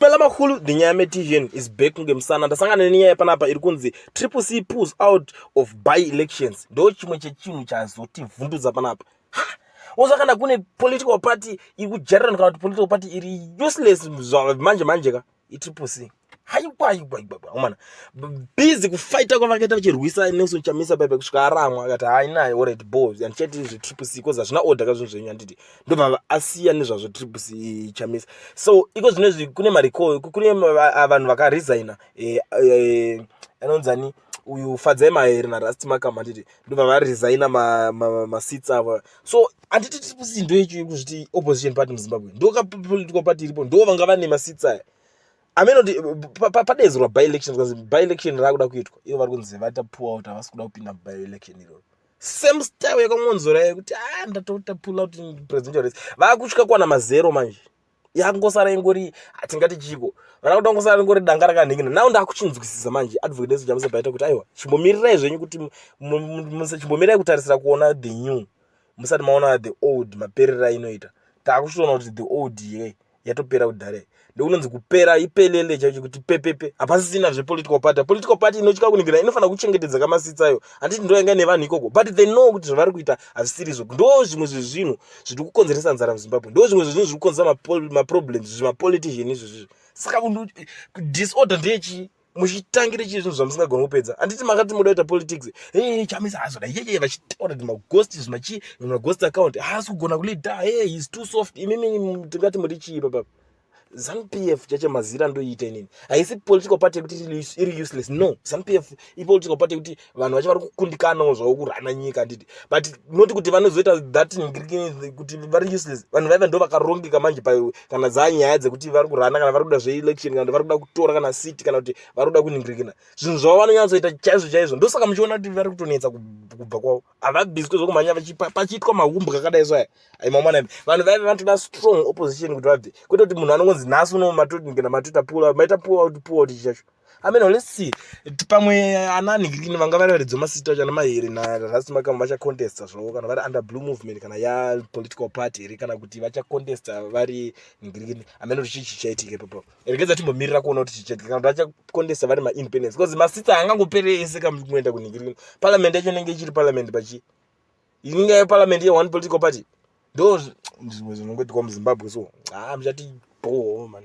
Pela Makulu, the Nyame TVN is back ngemusana. Ndasangana nenyaya panapa iri kunzi Triple C pulls out of by elections. Ndo chimwe chechinhu chazotivhundudza panapa. Oza kana kune political party iri kujarirana kana kuti political party iri useless manje manje ka i Triple C. Haikwa haikwa haikwa komana. Busy kufighta kwavakaita vachirwisa Nelson Chamisa bebe kusvika aramwa akati haina already boys and chat izvi Triple C koza zvina order kazvinhu zvenyu handiti. ndobva asiya nezvazvo tiri kuchamisa so iko zvino izvi kune mariko kune vanhu vakaresigna eh, eh, anonzani uyu fadzai mahere narust makama anditi ndobva varesigna masits avo so anditi tiri kusi ndo ichi kuzviti opposition party muzimbabwe ndokapolitical party iripo ndo vanga vane masits aya ameno ti padedzerwa by election zvikanzi by election raakuda kuitwa ivo vari kunzi vatapuwa kuti havasi kuda kupinda by election iroro same style yakamonzora yekuti ah ndatota pull out presidential race vakutya kwana mazero manje yakungosara ingori hatingati chiko vana kuti vangosara ringori danga rakanhingina nao ndakuchinzwisisa manje advocate yesu jamusa baita kuti aiwa chimbomirirai zvenyu kuti chimbomirai kutarisira kuona the new musati maona the old maperera inoita takuchitoona kuti the old ye yatopera kudhare ndokunonzi kupera ipelele chaicho kuti pepepe hapasisina zvepolitical party political party inotya kunigirana inofanira kuchengetedza kamasitsayo handiti ndo yanga nevanhu ikoko but they know kuti zvavari kuita hazvisiri izvo ndo zvimwe zvezvinhu zviri kukonzeresa nzara muzimbabwe ndo zvimwe zvezvinhu zviri kukonzeresa maproblems zvimapolitician izvozvizvo saka disorder ndeyechii muchitangire chii zvinhu zvamusingagoni kupedza handiti makati moda kuita politics e chamisa hazoda yeye vachitaura kuti maghost zvimachii maghost account haasi kugona kulida e heis too soft imimi tingati muri chii papa zanp f chacho mazira ndoiita inini haisi political party yekuti iri useless no zanp f ipolitical party yekuti vanhu vacho vari kukundikanawo zvavo kurana nyika handiti but not kuti vanozoita that kuti vari useless vanhu vaiva ndo vakarongeka manje pa kana dzaa nyaya dzekuti vari kurana kana vari kuda zveelection kana kuti vari kuda kutora kana city kana kuti vari kuda kuningirikina zvinhu zvavo vanonyatsoita chaizvo chaizvo ndosaka muchiona kuti vari kutonetsa kubva kwavo havabiswe zvokumhanya pachiitwa mahumbu kakadai so aya aimamwana vanhu vaive vanotoda strong opposition kuti vabve kwete kuti munhu anongonzi nhasi unomatoti kana matota pula maita pua kuti pua kuti chichacho I mean, let's see. Pamwe eh, anani kini vanga vari varidzo masita chana mahiri na Rasi Makama vacha contesta zvo kana vari under blue movement kana ya political party here kana kuti vacha contesta vari ngirikini. I mean, kuti chichi chaitike papo. Regeza timbomirira kuona kuti chichi kana vacha contesta vari ma independence because masita anga ngopere ese kam kuenda ku ngirikini. Parliament yacho nenge ichiri parliament pachi. Inga ya parliament ya one political party. Ndo zvimwe zvinongoitwa mu Zimbabwe so. Ah, mchati bho man.